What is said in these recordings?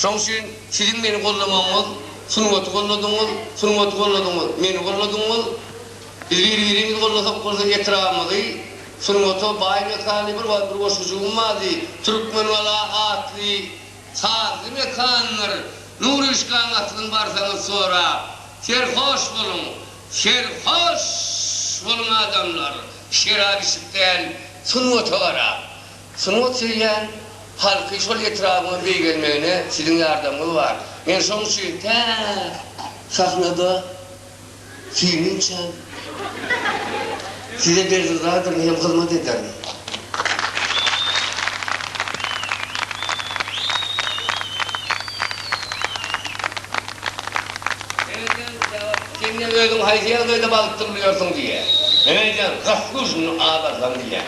Şoň üçin siziň meni gollamagyňyz, sungaty golladyňyz, sungaty golladyňyz, meni golladyňyz. Biz bir-birimizi gollasak bolsa etrabymyzy sungata baý mekanly bir wagt bir goşgujygym bardy, Türkmengala atly sazly mekandyr. Nuryşkaň asylyny barsaňyz sorap, serhoş boluň, serhoş boluň adamlar, şerap içip däl, sungata garap, Sungat söýýän halky şol etrabyňa beýgelmegine siziň ýardamyňyz bar. Men şoň üçin tä sahnada süýnünçäm size bergizadyryn hem hyzmat ederin. Sen özüň haýsy ýagdaýda balykdyr bilýärsiň diýýär. Men aýdýan, Gafguzny azarsam diýýän.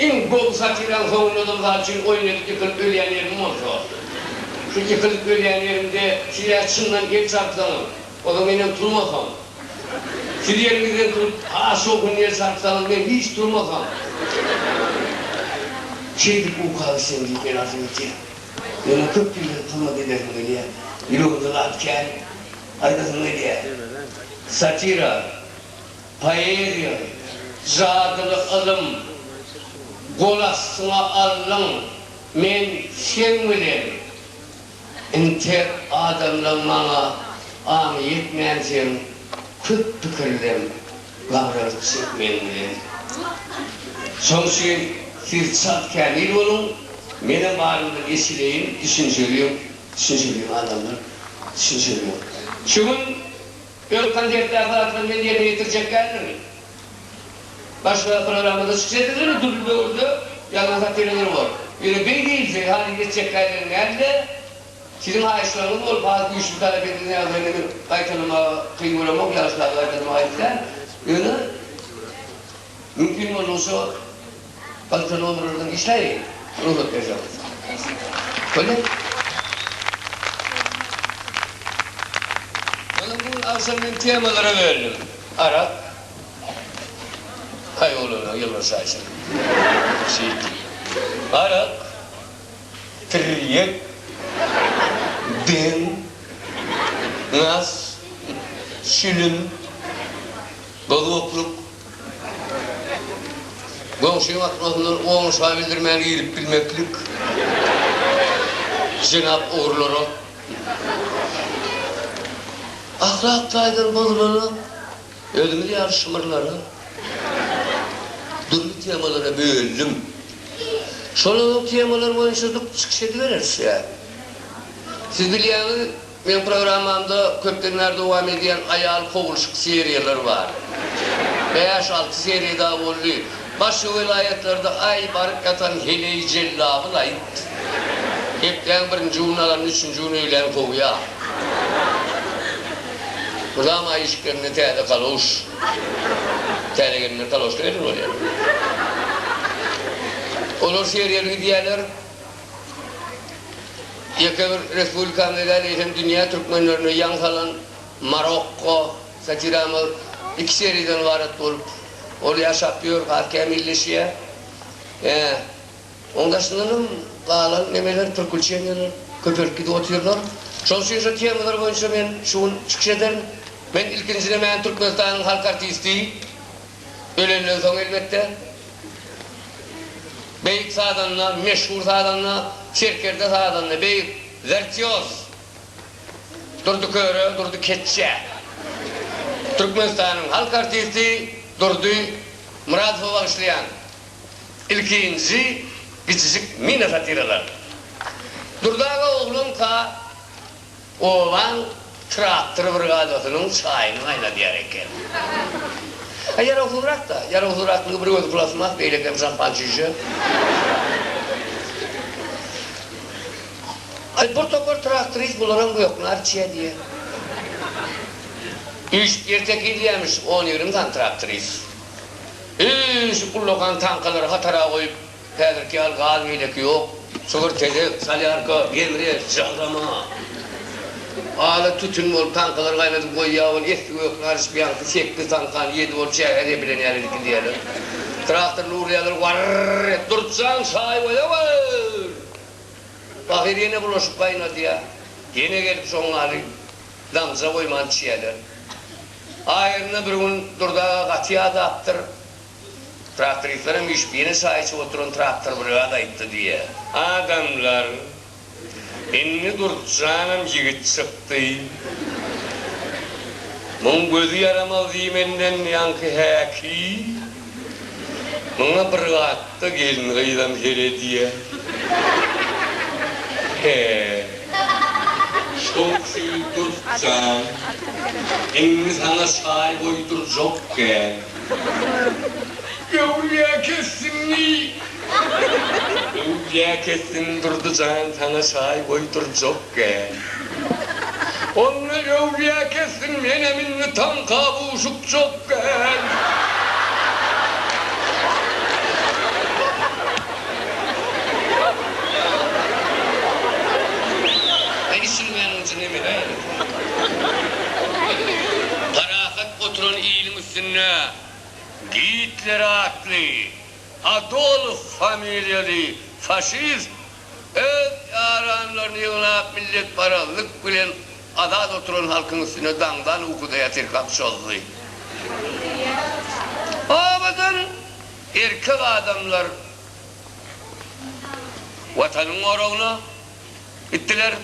Iň gowy satiraň soňundan mysal üçin oýnadyp ýykylp ölýän ýerim bolsa. Şu ýykylp ölýän ýerimde siz ýa çyndan el çarpsaňyz, ozal menem turmasam. Siz ýeriňizden turup has şowhunly el çarpsaňyz men hiç turmasam. Şeýdip uka gitseň diýip men azym ýitýär. Meniň köp ýyldan turma gidesim gelýär. Ýüregimde zat kän aýdasym gelýär. Satira. Poeziýa, jadyly ylym, gol astyňa alnyň, men seň bilen. Intek adamlaň maňa aňy ýetmänsiň, köp pikirlem, gabralyk çek meň bilen. Şoň üçin siz çalt kämil boluň, menem barymdan eşideýin, düşünjeliň, düşünjeliň adamlar, düşünjeliň. Şu gün. Öz konsertdäki zatlaryny men ýerine ýetirjek däldirmi? Başga programmada çykyş ederiň ýöne dürli döwürde ýazan satiralaryň bor. Ýöne beý diýilse haýyş etjekkälerem däldi. Siziň haýyşlaryňyz bolup has güýçli talap edildi ýagdaýda meniň gaýtalamaga kyn göremok, ýagyşlarda gaýtalamaga aýyp däl. Ýöne mümkin boldugyça. Galypsyna onur ördüm işleýin ruhut berje bolsa. Boldy. Ýöne bu gün agşam men temalara böldüm. Arak. Haý oglana ýylgyryşa şeýle. Şeýt. Arak. Tirýek. Deň. Nas. Şilim. Bozokluk. Goňşyň atmazyndan oňuşa bildirmän girip bilmeklik jenap ogrulara ahlak taýdan bozulana özümiz ýaly şymyrlana dürli temalara bölündim. Şolaryň temalary boýunça çykyş edibereris ýa siz bilýäňiz Meň programmamda köpden bäri dowam edýän aýal kowulşyk seriýalar bar. Bäş-alty seriýa dagy boldy. Başga welaýatlarda aý baryp ýatan heleý jellabyl aýt. Hepdäň birinji gününi alanda üçünji gün öýlän kowýa. Mydama aý işiklerinde täze kaloş. Täze gelinler kaloşda gelinip alýar. Olar seriýaly gidýärler. Ýeke bir respublikamyza däl, eýsem dünýä türkmenlerine ýaň salan Marokko satiramyz iki seriýadan ybarat bolup, ol ýaşap ýör, has kämilleşýär. Ýa, oň daşyndan hem galan nemeler, prikuçeniýalar köpelip gidip otyrlar. Şonuň üçin şo temalar boýunça men şu gün çykyş ederin. Men ilkinji nemäni Türkmenistanyň halk artisti, Ölenden soň elbetde, beýik sazanda, meşhur sazanda, serkerde sazanda, beýik wirtýoz Durdy Köre, Durdy Keçje, Türkmenistanyň halk artisti Durdy Myradowa bagyşlaýan ilkinji kiçijik mini-satiralar. Durdy aga oglanka, Oglan traktor brigadasynyň çaýyny gaýnadýar eken. A ýarawsyzrak-da. Ýarawsyzraklygy bir özi plastmas, beýlekem şampan çüýşe. Aý, bir topar traktorist bularam göknar içýä diýýä. Üýşüp ýer tekizleýämiş on-ýigrimi sany traktorist. Üýşüp ullakan tankalary hatara goýup, Häzirki ýaly gaz beýleki ýok. Çygyr tezek salýarka, gemre, jyrama. Ala tütün bolup, taňkalar gaýnadyp goýýar, ol esli gökli aryş biaňsy sekiz taňkany ýedi bolup çäge zepilen ýaly edip gidýärler. Traktorly urýarlar, warr-r-r et, Durçjan, çaý goýawer! Pahyr ýene bulaşyk gaýnadýar. Ýene gelip şoň ýaly damja goýman içýärler. Aýryna bir gün Durdy aga gaty ýadapdyr. Traktorisler hem üýşüp ýene çaý içip oturan traktor brigada aýtdy diýýär. Adamlar, Indi Durtjanam ýigit çykdy. Muň gözi ýaramaz diýmenden ýaňky häki, muňa bir gatda gelin-gyzam her edýär. He, şowsy Durtjan, indi saňa çaý goýdurjak gel. Öwlüýä kessin ni. Öwlüýä kessin Durdy jan saňa çaý goýdurjakgä. Onda öwlüýä kessin menem indi taň kabuşukjakgä. Üstünde Gitler atly Adolf familiýaly faşist öz ýaranlaryny ýygnap milletparazlyk bilen azat oturan halkyň üstüne daňdan ukudaýar sirkap çozdy. Obadan erkek adamlar Watanyň goragyna, Gitdiler.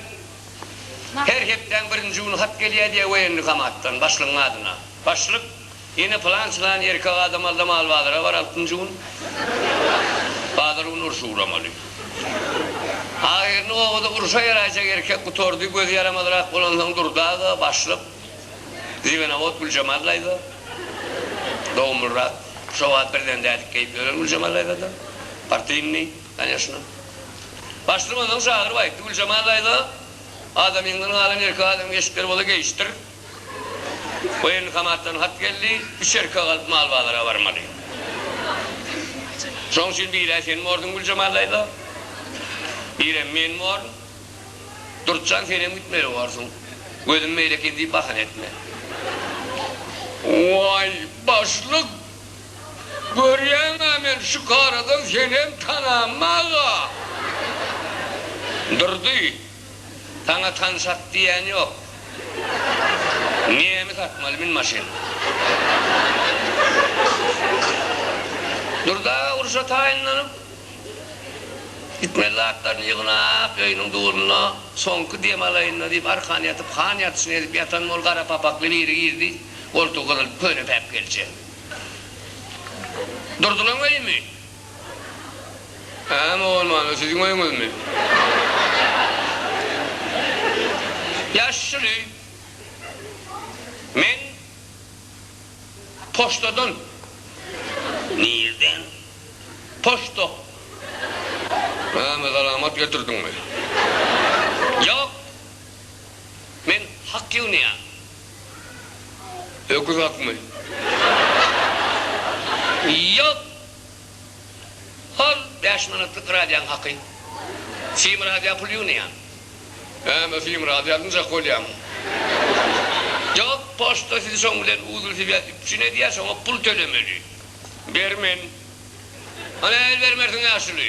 Her hepdäň birinji güni hat gelýär diýýär woýennikommatdan, başlygyň adyna. Başlyk, Ýene pylan-çylan erkek adam aldamaly bazara bar altynjy gün. Bazar güni urşa ugramaly. Ahyryny obada urşa ýaraýjak erkek gutardy. Gözi ýaramazrak bolansoň Durdy aga, başlyk, Zibenawod Güljemal daýza, dogumlyrak, şo wagt birden dädikleýip ýören Güljemal daýzadan, partynnyý. Конечно. Başlygynyň şagyry bar ekdi. Güljemal daýza, adamyňdan galan erkek adamyň eşikleri bola geýişdir. Woýenkomatdan hat geldi, üç erkek alyp mal bazara barmaly. Şoň üçin bir-ä sen borduň Güljemal daýza, birem men born. Durtjan senem gitmeli borsuň. Gözüm meýil eken diýip bahana etme. Waý, başlyk! Görýäňä men şu karadan senem tananmy aga? Durdy, saňa tan sat diýen ýok. Nemi satmaly min maşyn. Durdy aga urşa taýynlanyp gitmeli zatlaryny ýygnap öýüniň dugruna soňky dem alaýynda diýip arkan ýatyp han ýatyşyny edip ýatan bol gara papakly biri girdi goltugy gyzyl köne päpgelçe. Durdylaň öýümi? Hä, mogolmano, siziň öýüňizmi? Ýaşyl öý. Men poçtadan. Nirden? Poçta. Näme, salamat getirdiňmi? Ýok. Men hak ýygnaýan. Öküz akmy? Ýok! Al, bäş manatlyk radioň haky. Sim radioň puly ýygnaýan. Hä-m-e, sim radio alynjak bolýarmy? Ýok, poçta sizi şoň bilen uzlswýaz üpjün edýär, şoňa pul tölemeli. Bermen. Nähili bermersiň ýaşuly?